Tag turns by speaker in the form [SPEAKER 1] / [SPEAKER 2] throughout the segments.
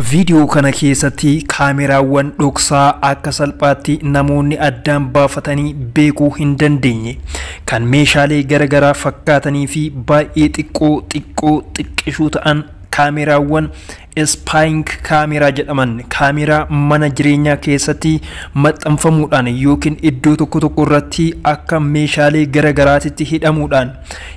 [SPEAKER 1] Viidiyoo kana keessatti kaameraawwan dhoksaa akka salphaatti namoonni addaan baafatanii beekuu hin dandeenye kan meeshaalee garagaraa fakkaatanii fi baay'ee xiqqoo xiqqoo xiqqishuu ta'an kaameraawwan ispaayink kaameraa jedhaman kaameraa mana jireenyaa keessatti maxxanfamuudhaan yookiin iddoo tokko tokko irratti akka meeshaalee garagaraatitti hidhamuudhaan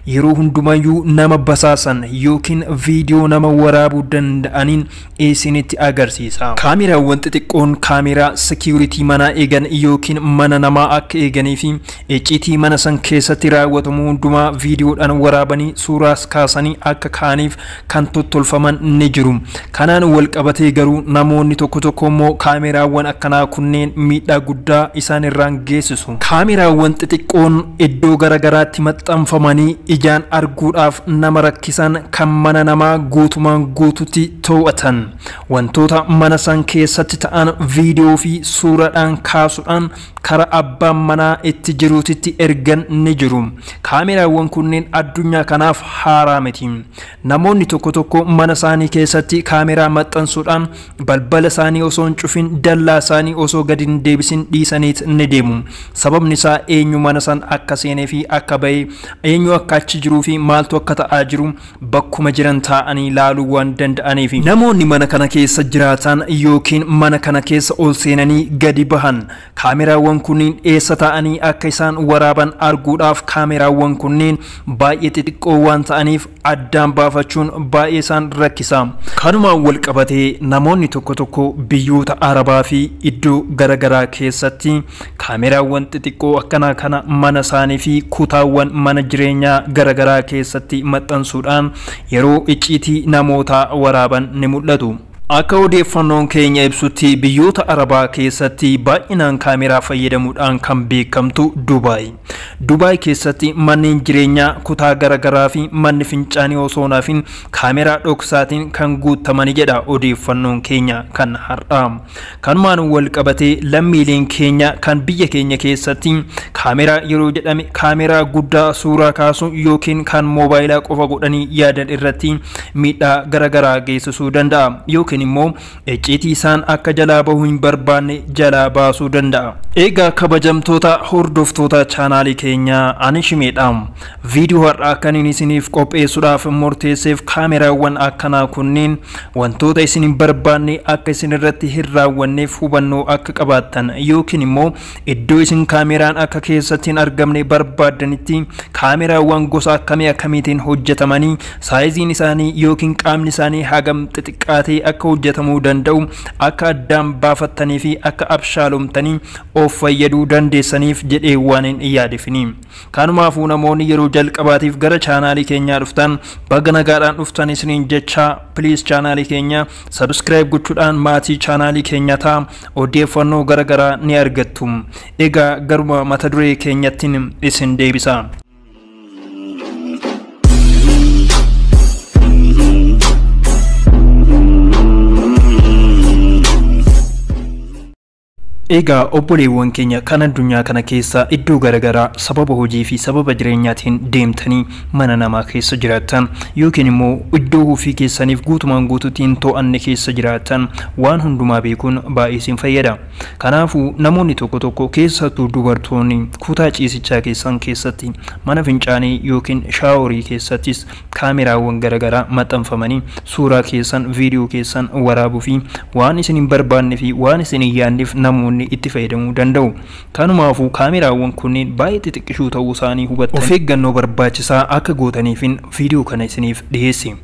[SPEAKER 1] Yeroo hundumayyuu nama basaasan yookiin viidiyoo nama waraabuu danda'aniin isinitti agarsiisa. Kaameraawwan xixiqqoon kaameraa security manaa eegan yookiin mana namaa akka eeganii fi icciitii mana san keessatti raawwatamu hundumaa viidiyoodhaan waraabanii suuraas kaasanii akka kaa'aniif kan tottolfaman ni jiru. Kanaan walqabatee garuu namoonni tokko tokko immoo kaameraawwan akkanaa kunneen miidhaa guddaa isaan irraan geessisu. Kaameraawwan xixiqqoon iddoo gara garaatti maxxanfamanii ijaan arguudhaaf nama rakkisan kan mana namaa guutumaan guututti to'atan. Wantoota mana san keessatti ta'an viidiyoo fi suuraadhaan kaasudhaan kara abbaan manaa itti jiruutitti ergan ni jiru. Kaameraawwan kunneen addunyaa kanaaf haaraa miti. Namoonni tokko tokko mana isaanii keessatti kaameraa maxxansuudhaan balbala isaanii osoo hin cufin dallaa isaanii osoo gadi hin deebisin dhiisaniit ni deemu. Sababni isaa eenyu mana san akka seenee fi akka ba'e, eenyu akka achi jiruu fi maaltu akka ta'aa jiru bakkuma jiran taa'anii laaluu waan danda'aniifi. Namoonni mana kana keessa jiraatan yookiin mana kana keessa ol seenanii gadi bahan kaameraawwan kunniin eessa taa'anii akka isaan waraaban arguudhaaf kaameraawwan kunniin baay'ee xixiqqoo waan ta'aniif addaan baafachuun baay'ee isaan rakkisa. Kanumaan walqabatee namoonni tokko tokko biyyoota Arabaafi iddoo gara garaa keessatti Kaameraawwan xixiqqoo akkanaa kana mana isaanii fi kutaawwan mana jireenyaa gara garaa keessatti maxxansuudhaan yeroo icciitii namootaa waraaban ni mul'atu. Akka odeeffannoon keenya ibsutti biyyoota Arabaa keessatti baay'inaan kaameraa fayyadamuudhaan kan beekamtu Dubaay. Dubaay keessatti manneen jireenyaa kutaa gara garaa fi manni fincaanii osoo hin hafin kaameraa dhoksaatiin kan guuttamani jedha odeeffannoon keenya kan har'aa. Kanumaan walqabatee lammiileen keenya kan biyya keenya keessatti kaameraa yeroo jedhame kaameraa guddaa suuraa kaasu yookiin kan moobaayilaa qofa godhanii yaadan irratti miidhaa garagaraa geessisuu danda'a yookiin immoo icciitii isaan akka jalaa bahu hin barbaanne jalaa baasuu danda'a. Eegaa kabajamtoota hordoftoota chaanaalii keenyaa ani shimeedha. Viidiyoo har'aa kanin isiniif qopheessuudhaaf murteesseef kaameraawwan akkanaa kunniin Wantoota isin hin barbaanne akka isin irratti hin raawwanneef hubannoo akka qabaattan yookiin immoo iddoo isin kaameeraan akka keessatti hin argamne barbaaddanitti kaameraawwan gosa akkamii akkamiitiin hojjetamanii, saayiziin isaanii yookiin qaamni isaanii hagam xixiqqaatee akka hojjetamuu danda'u akka addaan baafattaniifi akka abshaalomtanii of fayyaduu dandeessaniif jedhee waanin yaadeefini. Kanumaafuu namoonni yeroo jalqabaatiif gara chaanaalii keenyaa dhuftan baga nagaadhaan dhuftan isiniin jechaa please chaanaalii keenya subscribe gochuudhaan maatii chaanaalii keenyaa ta'a odeeffannoo gara garaa ni argattu egaa garuma mata duree keenyattiin isin deebisa. Egaa obboleewwan keenya kan addunyaa kana keessa iddoo gara garaa sababa hojii fi sababa jireenyaatiin deemtanii mana namaa keessa jiraattan yookiin immoo iddoo ofii keessaniif guutumaan guutuutti hin to'anne keessa jiraattan waan hundumaa beekuun baay'ee isin fayyada. Kanaafuu namoonni tokko tokko keessattuu dubartoonni kutaa ciisichaa keessan keessatti, mana fincaanii yookiin shaaworii keessattis Kaameraawwan garagaraa maxxanfamanii suuraa keessan, viidiyoo keessan waraabuu fi waan isin hin barbaadne fi waan isin hin yaadneef namoonni itti fayyadamuu danda'u. Kanumaafuu kaameraawwan kunneen baay'ee xixiqqishuu ta'uu isaanii hubattanii of eeggannoo barbaachisaa akka gootaniifin viidiyoo kana isiniif dhiheesse.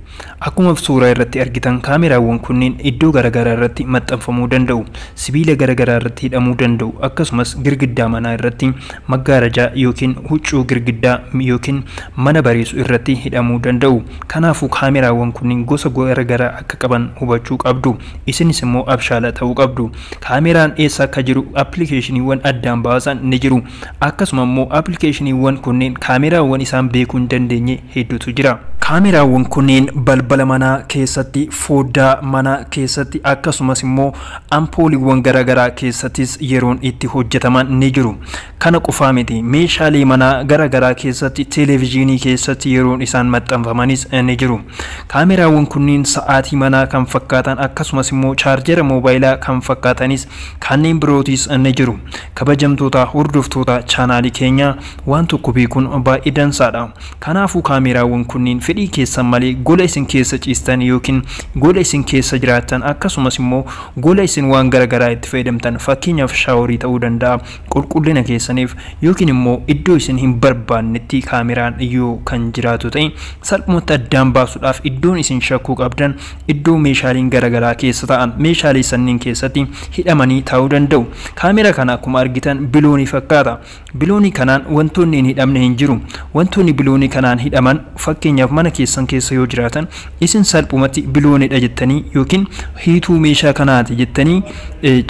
[SPEAKER 1] Akkuma suuraa irratti argitan kaameraawwan kunneen iddoo garagaraa irratti maxxanfamuu danda'u, sibiila garagaraa irratti hidhamuu danda'u, akkasumas girgiddaa manaa irratti maggaarajaa ykn huccuu girgiddaa ykn mana bareesu irratti hidhamuu danda'u. Kanaafuu kaameraawwan kunniin gosa gara garaa akka qaban hubachuu qabdu. Isinis immoo abshaala ta'uu qabdu. Kaameraan eessa akka jiru appilikeeshiniiwwan addaan baasan ni jiru. Akkasuma immoo appilikeeshiniiwwan kunniin kaameraawwan isaan beekuu hin dandeenye hedduutu jira. Kaameraawwan kunniin balbala manaa keessatti, fooddaa manaa keessatti akkasumas immoo. Ampooliiwwan garagaraa keessatis yeroon itti hojjetaman ni jiru. Kana qofaa miti, meeshaalee manaa garagaraa keessatti, televijiinii keessatti yeroon isaan maxxanfamanis ni jiru. Kaameraawwan kunniin sa'aatii manaa kan fakkaatan akkasumas immoo chaarjera moobaayilaa kan fakkaatanis kanneen birootis ni jiru. Kabajamtoota hordoftoota chaanaalii keenyaa waan tokko beekuun baay'ee dansaadha. Kanaafuu kaameeraawwan kunniin fedhii keessan malee gola isin keessa ciistan ykn gola isin keessa jiraattan akkasumas immoo gola isin waan gara garaa itti fayyadamtan fakkeenyaaf shaaworii ta'uu danda'a qulqullina keessaniif ykn immoo iddoo isin hin barbaannetti kaameraan yoo kan jiraatu ta'e salphumatti addaan baasuudhaaf iddoon isin shakkuu qabdan iddoo meeshaaleen gara garaa keessa taa'an meeshaalee sanniin keessatti hidhamanii taa'uu danda'u. Kaameera kana akkuma argitan biloonii fakkaata. Biloonii kanaan wantoonni hin hidhamne hin jiru. Wantoonni biloonii kanaan hidhaman fakkeenyaaf mana keessan keessa yoo jiraatan isin salphumatti biloonii dha jettanii ykn hiituu meeshaa kanaa ti jettanii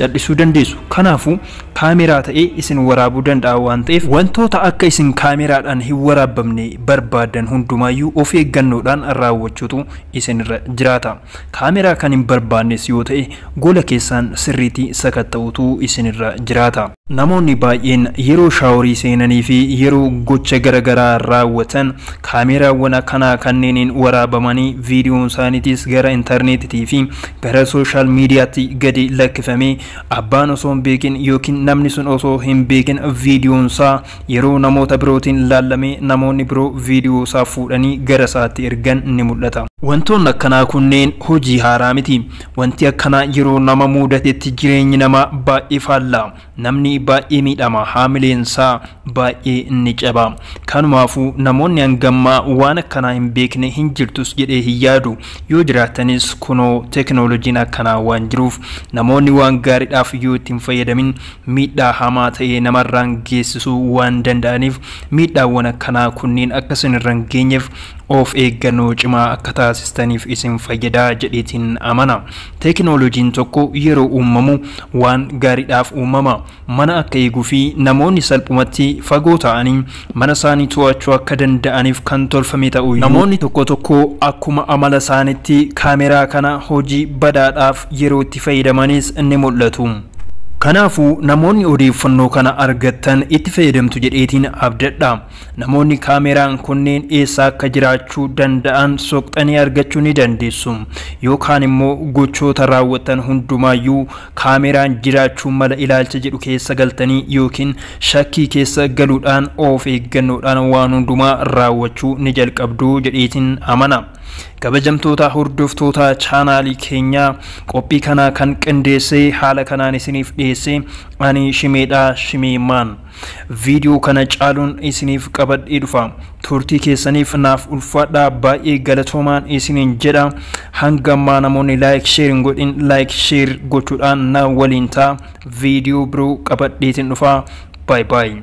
[SPEAKER 1] cal'isuu dandeessu. Kanaafuu kaameeraa ta'ee isin waraabuu danda'a waan ta'eef wantoota akka isin kaameeraadhaan hin waraabbamne barbaaddan hundumaayyuu of eeggannoodhaan raawwachuutu isinirra jiraata. Kaameraa kan hin barbaannes yoo ta'e gola keessaan sirriiti sakatta'uutu isin irra jiraata. Namoonni baay'een yeroo shaaworii seenanii fi yeroo gocha gara garaa raawwatan kaameeraawwan akkanaa kanneeniin waraabamanii viidiyoon isaaniitis gara interneetitii fi gara social mediaatti gadi lakkifamee abbaan osoo hin beekin ykn namni sun osoo hin beekin viidiyoon isaa Yeroo namoota birootiin laallame namoonni biroo viidiyoo isaa fuudhanii gara isaatti ergan ni mul'ata. Wantoonni akkanaa kunneen hojii haaraa miti. Wanti akkanaa yeroo nama muudatetti jireenyi namaa baay'ee faalla. Namni baay'ee miidhama, haamileen isaa baay'ee ni caba. Kanumaafuu namoonni hanga ammaa waan akkanaa hin beekne hin jirtus jedhee hin yaadu. Yoo jiraatanis kunoo tekinoolojiin akkanaa waan jiruuf namoonni waan gaariidhaaf yoo itti hin fayyadamin miidhaa hamaa ta'e namarraan geessisuu waan danda'aniif miidhaawwan akkanaa kunniin akka isinirra hin geenyeef of eeggannoo cimaa akka taasistaniif isin fayyada jedheetiin amana. Teekinooloojiin tokko yeroo uumamu waan gaariidhaaf uumama. Mana akka eeguufi namoonni salphumatti fagoo taa'anii mana isaanii to'achuu akka danda'aniif kan tolfame ta'u iyyuu, namoonni tokko tokko akkuma amala isaaniitti kaameraa kana hojii badaadhaaf yeroo itti fayyadamanis ni mul'atu. Kanaafuu, namoonni odeeffannoo kana argattan itti fayyadamtu jedheetiin abdadha. Namoonni kaameraan kunneen eessa akka jiraachuu danda'an soqxanii argachuu ni dandeessu. Yookaan immoo gochoota raawwattan hundumaa iyyuu Kaameraan jiraachuu mala ilaalcha jedhu keessa galtanii ykn shakkii keessa galuudhaan of eeggannoodhaan waan hundumaa raawwachuu ni jalqabdu jedheetiin amana. Kabajamtoota hordoftoota chaanaalii keenyaa qophii kana kan qindeessee haala kanaan isiniif dhiyeesse ani Shimeedha Shimee Maan. Video kana caaluun isiniif qabadhee dhufa. Turtii keessaniif naaf ulfaadhaa baay'ee galatoomaan isiniin jedha. Hanga ammaa namoonni like share hin godhin like share gochuudhaan na waliin ta'a. Video biroo qabadheetiin dhufa. Bye bye.